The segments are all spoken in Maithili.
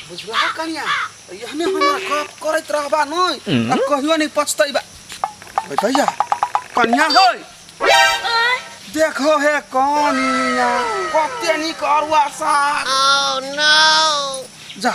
बुझला हो कनिया यहने हमरा गप करत रहबा नै आ कहियो नै पछतैबा ओइ भैया कनिया होय देखो हे कनिया कते निक अरुआ साग जा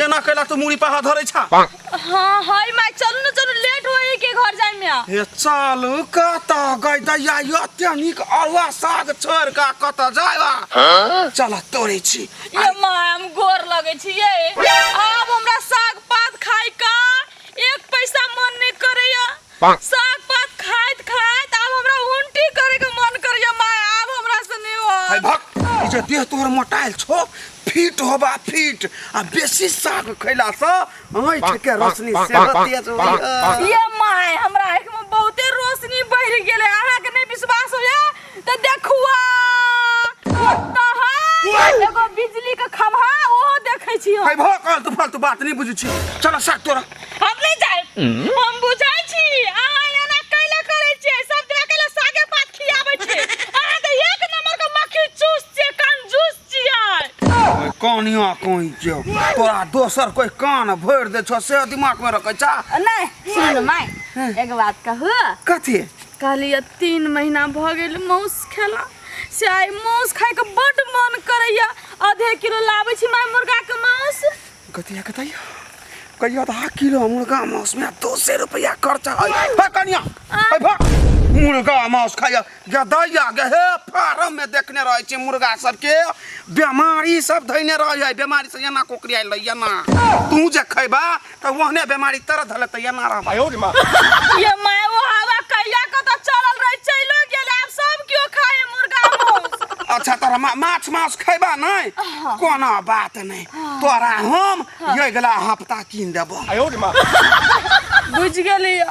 एना कैला तू मुड़ी पाहा धरै छा हाँ हाय माय चलू ना चलू लेट होई के घर जाए में आ। हे चल कत गई दैया एते निक अरुआ साग छोड़ का कत जायबा चल तोड़े छी ये माँ हम गोर लगे छिए आब हमरा साग पात खाई का एक पैसा मन नहीं करैया साग पात खाइत खाइत आब हमरा उल्टी करे के मन करैया माँ आब हमरा से नहीं हो है भक ई जे देह तोहर मोटाइल छो फिट होबा फिट आ बेसी साग खैला से आँखि के रोशनी सेहो तेज होइए ये माँ हमरा आँख में बहुते रोशनी बढ़ गेले अहाँ के नहीं विश्वास होया तो देखुआ कुत्ता है एगो बिजली के खम्हा ओहो देखै छी हम। है भो कल तू फालतू बात नहीं बुझी छी चलो साथ तोरा हम नहीं जाए हम बुझै छी अहाँ एना कैला करै छियै सब दिना कैला सागे पात खियाबै छियै अहाँ तऽ एक नंबर के मक्खी चूस छियै कंजूस छियै कानिया कोई जो तोरा दोसर कोई कान भर दे छो से दिमाग में रखे छा नहीं सुन माय एगो बात कहू कथी कहलियै तीन महीना भऽ गेल माउस खेला से आइ माउस खायके बड्ड मन करैया आधे किलो लाबै छी माय मुर्गाके माउस कतिया कतैया कहिया आधा किलो मुर्गा माउस में दो सौ रुपया खर्चा है है कनिया है भा मुर्गा माउस खाया गदैया गहे फार्म में देखने रहे छी मुर्गा सबके बीमारी सब धैने रहे है बीमारी से एना कोकरी आइल रही एना तू जे खैबा त ओहने बेमारी तर धले त एना रह भाई रे मां ये मैं वो हवा कहिया को तो चलल रही चलो गेल आप सब क्यों खाए मुर्गा मांस अच्छा तोरा मा, माछ मांस खैबा नहीं कोनो बात नहीं तोरा हम ये गला हफ्ता कीन देबो बुझ गेलियो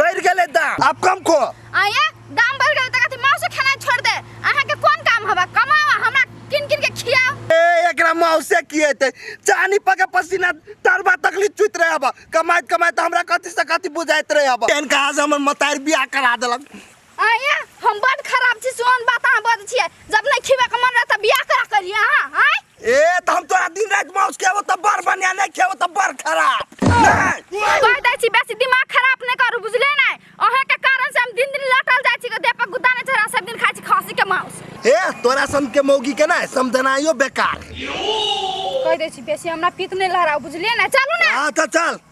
बढ़ गेलै दाम आब कम को आये दाम बढ़ गेल त कथी माँ से खाना छोड़ दे अहाँ के कोन काम हवा कमावा हमरा किन किन के खियाओ ए एकरा मौसे की हेतै चानी पके पसीना तरबा तकली चुत रहे अब कमाइत कमाइत हमरा कथी से कथी बुझाइत रहे अब एहन कहा से हमर मतार बियाह करा देलक आया हम बड खराब छी सोन बात अहाँ बज छियै जब नहीं खिबे के मन रहे त बियाह करा करिए अहाँ हैं ए त हम तोरा दिन रात माउस खेबो त बड़ बढ़िया नहीं खेबो त बड़ खराब नहीं कह दै छी बेसी दिमाग खराब नहीं करू बुझले नहीं अहाँ के कारण से हम दिन दिन लटल जाइ छी के देह पर गुद्दा नहीं चढ़ा सब दिन खाइ छी खस्सी के मांस ए तोरा सन के मौगी के ना समझनाइयो बेकार कह दै छी बेसी हमरा पीत नहीं लहराउ बुझलिए ना चलू ना हां त चल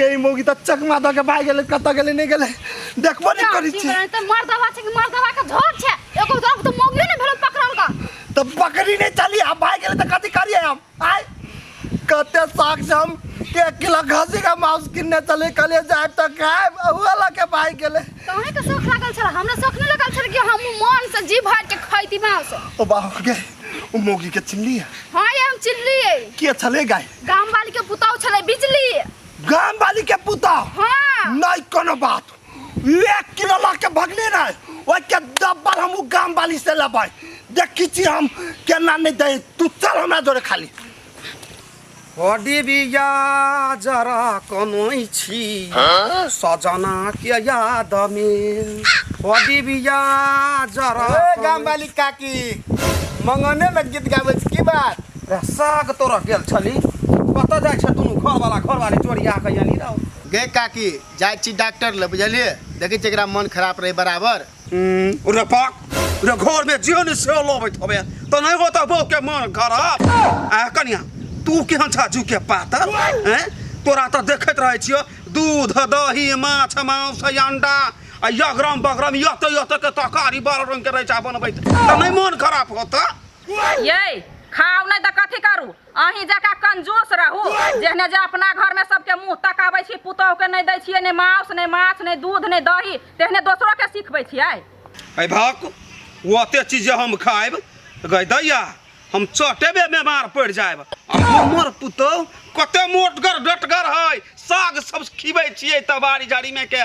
गई मोगी त चकमा द के भाग गेले कत गेले नहीं गेले देखबो नहीं करी छी त मर दवा छै मर दवा के झोर छै एको दो तो मोगी ने भेल पकड़न का त पकड़ी नहीं चली आ भाग गेले त कथि करिए हम आय कते साख से हम के किलो घसी का मांस किनने चले कले जाए त खाए वाला के भाग गेले तोहे के शौक लागल छला हमरा शौक नहीं लागल छला कि हम मन से जी भर के खैती मांस ओ बाप के ओ मोगी के चिल्ली है हां ये हम चिल्ली है के चले गए गाम वाली के पुतौ छले बिजली गाम वाली के पुता हाँ नहीं कोनो बात एक किलो ला के भगने ना ओइ के डब्बल हम उ गाम वाली से लबै देखी छी हम केना नहीं दे तू चल हमरा जोरे खाली हडी बिया जरा कनै छी सजना के याद में हडी बिया जरा ए गाम वाली काकी मंगने में गीत गाबै छी की बात रे साग तोरा गेल छली कतऽ जाइ छै दुनू घरवाला घरवाली चोरिया कऽ अयली रहौ गे काकी जाइ छी डॉक्टर लग बुझलिए देखै छी एकरा मन खराब रहै बराबर रे पाक रे घरमे जे ने से लबैत होबे तऽ नहि होतऽ बौके मन खराब आ कनिया तू केहन छा झुके पातर हैं तोरा तऽ देखैत रहै छियो दूध दही माछ मांस अंडा आ यगरम बगरम यत यत के तरकारी बारह रंग के रहै छै बनबैत तऽ नहि मन खराब होतऽ ये खाउ नहीं तो कथी करू अही जका कंजूस रहू जेहने जे अपना घर में सबके मुंह तकाबै छी पुतोह के नहीं दै छियै ने मांस ने माछ ने दूध ने दही तेहने दोसरो के सिखबै छियै ऐ भक ओते चीज जे हम खाएब गई दैया हम चटेबे बीमार पड़ जाएब आ हमर पुतोह कते मोटगर डटगर है साग सब खिबै छियै तबारी जारी में के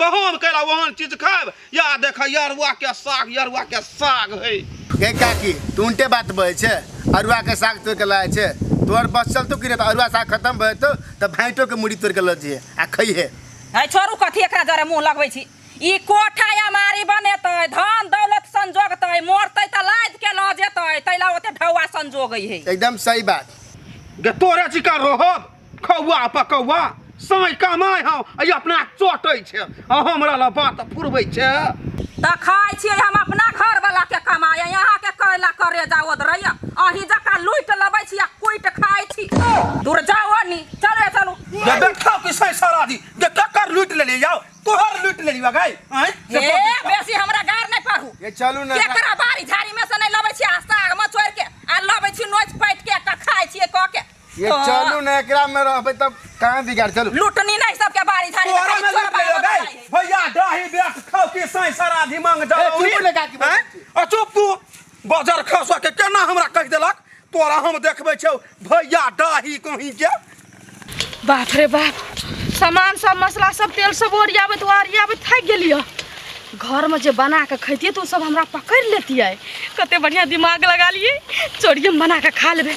तहन कैला ओहन चीज खायब या देखा यरुआ के साग यरुआ के साग है गे काकी तू उनटे बात बहे छे अरुआ के साग तोड़ के लाए छे तोर बस चलतो कि रे तो अरुआ साग खत्म भए तो तो भाइटो के मुड़ी तोड़ के लऽ जइहे आ खइहे है छोरू कथी एकरा जरे मुंह लगबै छी ई कोठा अमारी बनेतै धन दौलत संजोगतै मरतै तऽ लाज के लऽ जेतै तैला ओते ढौआ संजोगै है एकदम सही बात गे तोरे चिका रोहब कौआ पर कौआ साँय कमाय हौ अइ अपना चोटै छै आ हमरा ला बात फुरबै छै तऽ खाइ छियै हम अपना घरवला के कमाय यहाँ के कैला करे जाओ रहैया अही जका लूट लबै छी आ कुट खाइ छी दूर जाओ नी चले चलू जे देखौ कि साँय सारा दी जे ककर लूट ले ले जाओ तोहर लूट ले लिया गाय आँय से ए बोल दे। बेसी हमरा गार नहीं पढ़ू ये चलू ना केकरा बारी झाड़ी में से नहीं लबै छी आ साग में चोर के आ लबै छी नोच पैट के एकटा खाइ छियै कह के ये हाँ। चलू ना एकरा में रहबे तब कहां बिगाड़ चलू लुटनी नहीं सबके बारी झाड़ी तोरा में लग ले गई भैया दही बेट खाओ के साई सारा दिमाग जा ए, तू बोले का की बात छी? आ चुप तू बाजार खसा के केना हमरा कह देलक तोरा हम देखबै छौ भैया दही कहीं के बाप रे बाप सामान सब मसला सब तेल सब ओरियाबैत ओरियाबैत थाकि गेलिए घरमे जे बना कऽ खैतियै तऽ ओ सब हमरा पकड़ि लेतियै कते बढ़िआँ दिमाग लगा लियै चोरियम बना कऽ खा लेबै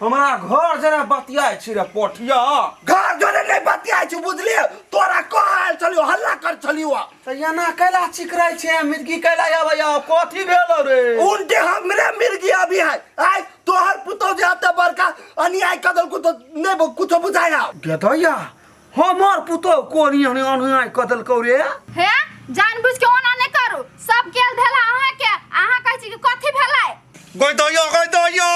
हमरा घर जेना बतियाइ छी रे पोठिया घर जोरे नहीं बतिया छु बुझलिए तोरा कह आयल छलियो हल्ला कर छलियो तऽ एना कैला चिकरै छै मिर्गी कैला आबैया कथी भेल रे उनके हमरे मिर्गी अभी है आय तोहर पुतौ जे अते बड़का अन्याय कर देलकू तो नहीं कुछ बुझाया गेदैया हमर पुतोह कोन एहन अनहाय कऽ देलकौ रे हे जानबूझ के ओना नहि करू सब गेल भेला अहाँ के अहाँ कहै छी कि कथी भेलै गई दइयो गई दइयो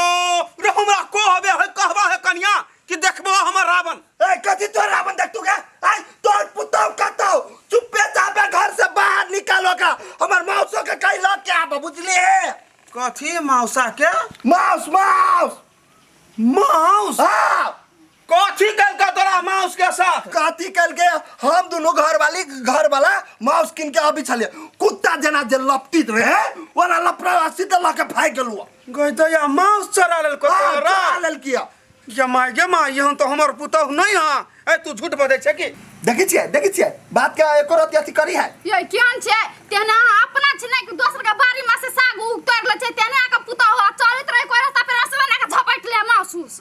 रे हमरा कहबे है कहबा है कनिया कि देखबो हमर रावण ए कथी तो रावण देख तू के आई तोर पुतौ कतौ चुपे चापे घर से बाहर निकालो का हमर मौसो के कई लग के आब बुझले कथी मौसा के माउस माउस माउस हां कथी कलका तोरा माउस के साथ कथी कलके हम दोनों घर वाली घर वाला माउस किन के अभी छलिए कुत्ता जना जे लपटित रहे ओना लपड़ा रस्सी त लके फाइ गेलुआ गई तो या माउस चरा लेल को तोरा लेल किया ये माय गे माय यहाँ तो हमर पुतहु नहीं हां ए तू झूठ बजे छे की देखि छिए देखि छिए बात के एको रति अथी करी है ये केन छे तेना अपना छे नहीं दोसर के बारी में से साग उग तोड़ ले छे तेना के पुतहु चलत रहे कोरा सा पे रसवा ना के झपट ले माउस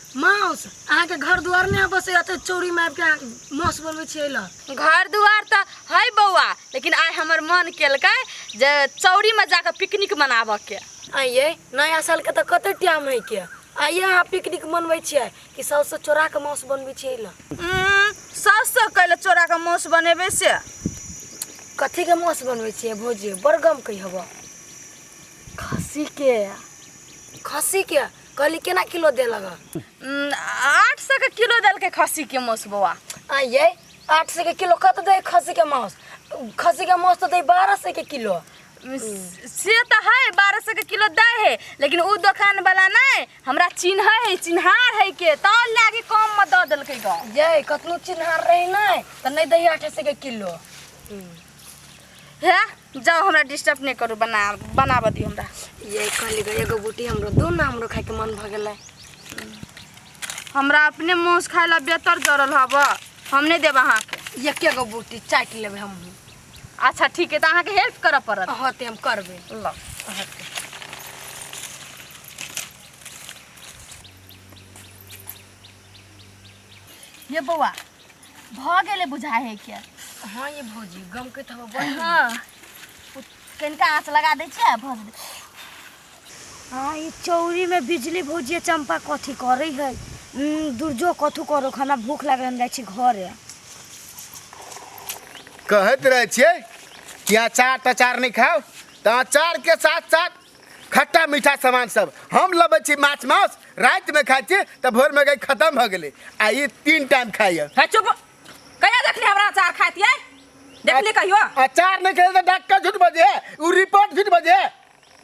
माउस अहाँ के घर द्वार में बस एते चौरी में आबि के अहाँ माउस बनबै छियै ल घर दुआर तऽ है बौआ लेकिन आइ हमर मन केलकै जे चौरीमे जा कऽ पिकनिक मनाबऽके आइये नया साल के तऽ कते टाइम है के आइये अहाँ पिकनिक मनबै छियै कि सबसे चोरा के माउस बनबै छियै ल साउससँ कैले चोरा कऽ माउस बनेबै से कथी के माउस बनबै छियै भौजी बड़ गम कहि हबऽ खस्सी के खस्सी के कहली केना किलो देलक हँ? उम, आठ सौ के किलो देलकै खस्सी के मौस बौआ आ ये आठ सौ के किलो कत दे खस्सी के मांस खस्सी के मांस तो दे बारह सौ के किलो उम, से तो है बारह सौ के किलो दे है लेकिन उ दुकान वाला नहीं हमरा चिन्ह है चिन्हार है के तब लागे कम में दे देलकै ग ये कतनो चिन्हार रही नहीं तो नहीं दे आठ सौ के किलो है जाओ हमरा डिस्टर्ब नहीं करू बना बनाबऽ दियो हमरा ये कहली गई एगो बूटी हमरो दो ना हमरो खाए के मन भ गेलै हमरा अपने मुँह से खाए ला बेहतर जरल हब हम नहीं देब अहाँ के एके गो बूटी चाटि लेबै हमहूँ अच्छा ठीक है तो अहाँ के हेल्प करऽ पड़त होते हम करबै ल ये बौआ भऽ गेलै बुझा हे के हाँ ये भौजी गम के तो बड़ हाँ कनिका आँच लगा दै छियै भऽ जेतै हाँ ये चौरी में बिजली भौजी चंपा कथी करे है हम्म, दुर्जो कथू करो हमरा भूख लागल हम जाइ छी घरे कहत रहे छे कि अचार तचार नहीं खाओ तो अचार के साथ साथ खट्टा मीठा सामान सब हम लबै छी माछ मास रात में खाइ छी त भोर में गई खत्म भ गेले आ ई तीन टाइम खाइए है चुप कहिया देखली हमरा अचार खाइत ये देखली कहियो अचार नहीं खेले तो डॉक्टर झूठ बजे उ रिपोर्ट झूठ बजे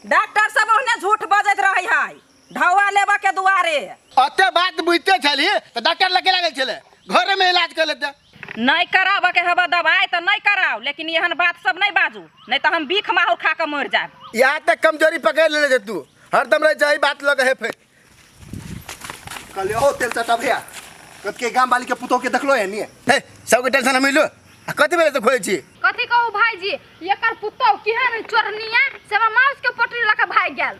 डॉक्टर सब ओहने झूठ बजैत रहै है ढौआ लेबऽ के दुआरे अते बात बुझते छली तऽ डॉक्टर लगे लागल छले घरे में इलाज कर लेते नहि कराबऽ के हबऽ दवाइ तऽ नहि कराउ लेकिन एहन बात सब नहि बाजू नहि तऽ हम बीख माहौर खा कऽ मरि जायब या तक कमजोरी पकड़ लेले जे तू हरदम रह जाई बात लगे है फिर कहले ओ तेल चटा भैया कत के गांव वाली के पुतो के देखलो है नहीं हे सबके टेंशन हम लो आ कथी भेलै तऽ खोजै छी कथी कहू भाईजी एकर पुतोह केहन चोरनिया से हमरा माउस के पोटरी लऽ के भागि गेल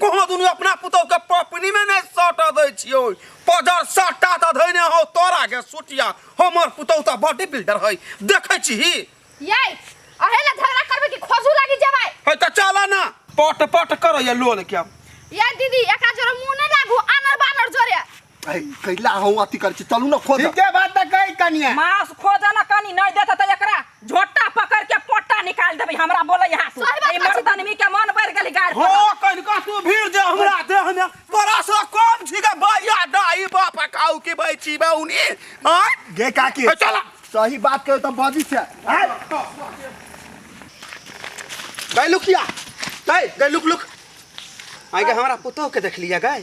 कोनो दुनू अपना पुतौ के पपनी में नहीं सट दै छियो पजर सट्टा त धैने हो तोरा के सुटिया हमर पुतौ त बॉडी बिल्डर है देखै छी ये अहे ला झगड़ा करबे कि खोजू लागी जबाय है त चला ना पट पट करैया लोल के ये दीदी एका जोरे मुंह नहीं लागू आनर बानर जोरे ऐ, कैला हो अथी कर छी चलू ना खोद ठीके बात तऽ कही कनिया मांस खोज न कनी नहीं देता त एकरा झोटा पकड़ के पोटा निकाल देबे हमरा बोले यहाँ से सही बात ई मर्द आदमी के मन बढ़ गेल गाड़ हो कनिका तू भीड़ जे हमरा देह में तोरा से कम छी के भैया दाई बाप काऊ के बैची बा उनी हां गे काकी ए, चला। सही बात कहे तो बजी से हैं? गई लुकिया गई गई लुक लुक आई के हमरा पुतोह के देख लिया गई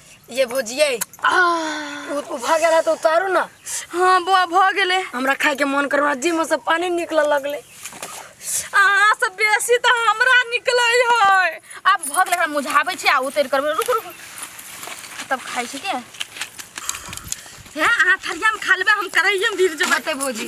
ये भोजिए आह, उ- उ भऽ गेल है तो उतारू ना हाँ बुआ भऽ गेलै हमरा खाए के मन करवा जी में से पानी निकलऽ लगले अहाँ से बेसी तऽ हमरा निकलै है आब भऽ गेलै हमरा मुझाबै छै आ उतरि करबै रुक रुक तब खाइ छी के हे अहाँ थरियामे खा लेबै हम करैएमे गिर जेबै बते भोजी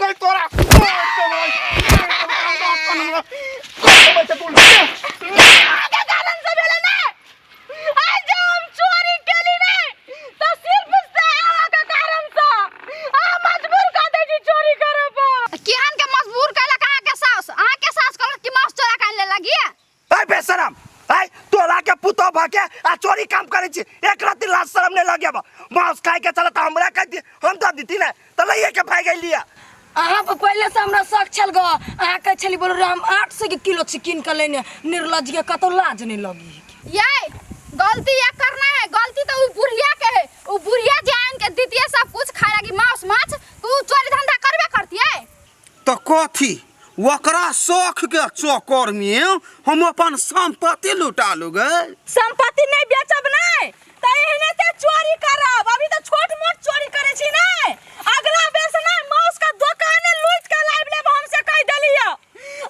गई तोरा आगे कारण से भेले ना आज जब हम चोरी केली ने तो सिर्फ सेवा के कारण से आ मजबूर कर दे जी चोरी करे पर केहन के मजबूर कैला कहाँ के सास अहाँ के सास कहल कि मास चोरा कर ले लगी अरे बेशरम अरे तोरा के पुतो भा के आ चोरी काम करे छी एक रात लाज शरम नहीं लगे बा मांस खाए के चलत हमरा कह दी हम तो दीती ना तो लइए के भाग गई लिया अहाँ पर पहिले से हमरा शक छल ग अहाँ कहै छली बोल हम आठ सौ के किलो से कीन के लेने निर्लज के कतौ लाज नहीं लगी है कि। ये गलती ये करना है गलती तो उ बुढ़िया के है उ बुढ़िया जान के दीतिए सब कुछ खाए लगी मांस माछ तू चोरी धंधा करबे करती है त कथि? ओकरा शौख के चक्कर मे हम अपन संपत्ति लुटा लू गे। संपत्ति नै बेचब नै त एहने से चोरी करब। अभी त छोट मोट चोरी करै छी नै। अगला बेर से नै मौस के दोकाने लूटि के लाबि लेब हम से कहि देलियौ।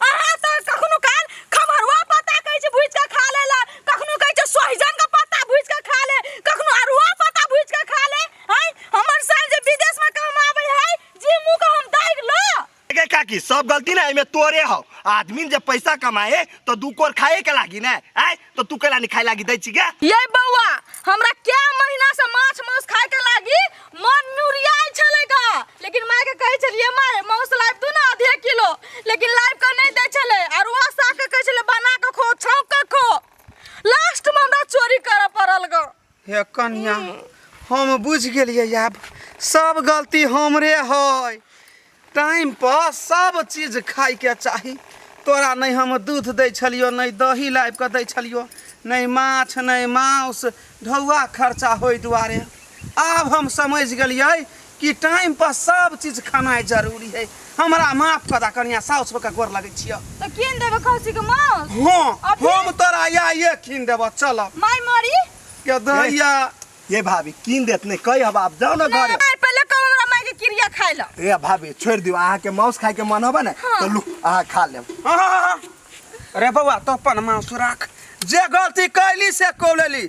अहाँ त कखनो काल खम्हरुआ पत्ता कहै छी भुजि के खा लै ले। कखनो कहै छी सोहिजन के पत्ता भुजि के खा ले। कखनो अड़हुआ पत्ता भुजि के खा ले। हैं हमर साइर जे विदेश मे कमाबै है जे मुंह का हम दाग लो गे काकी सब गलती ना एमे तोरे हो आदमी जब पैसा कमाए तो दू कोर खाए के लागी ना आय तो तू केला नहीं खाए लागी दै छी गे ये बौआ हमरा क्या महीना से माछ मांस खाए के लागी मन नुरियाई छले का लेकिन माय के कहे छलिए माय मांस लाइब दू ना आधे किलो लेकिन लाइब का नहीं दे छले और वह साग के कहे छले बना के खो छौंक के खो लास्ट में हमरा चोरी करे पड़ल गो हे कन्या हम बुझ गेलिए आब सब गलती हमरे है टाइम पर सब चीज खाई के चाही तोरा नहीं हम दूध दे छलियो नहीं दही लाइब के दे छलियो नहीं माछ नहीं मांस ढौआ खर्चा होई दुआरे आब हम समझ गेलिए कि टाइम पर सब चीज खानाइ जरूरी है हमरा माफ कर दा कनिया साउस के गोर लगै छियो तो किन देबे खौसी के मांस हां अभी? हम तोरा या ये खिन देबो चल माय मरी के दैया ये भाभी कीन देत नहीं कही अब आप जाओ ना घर नहीं पहले कब हमरा माय के क्रिया खाय ल ए भाभी छोड़ दियो अहाँ के मांस खाए के मन होबे ना तो लू अहाँ खा लेब हाँ, हाँ, हाँ। अरे बउआ तो अपन मांस राख जे गलती कैली से कौलेली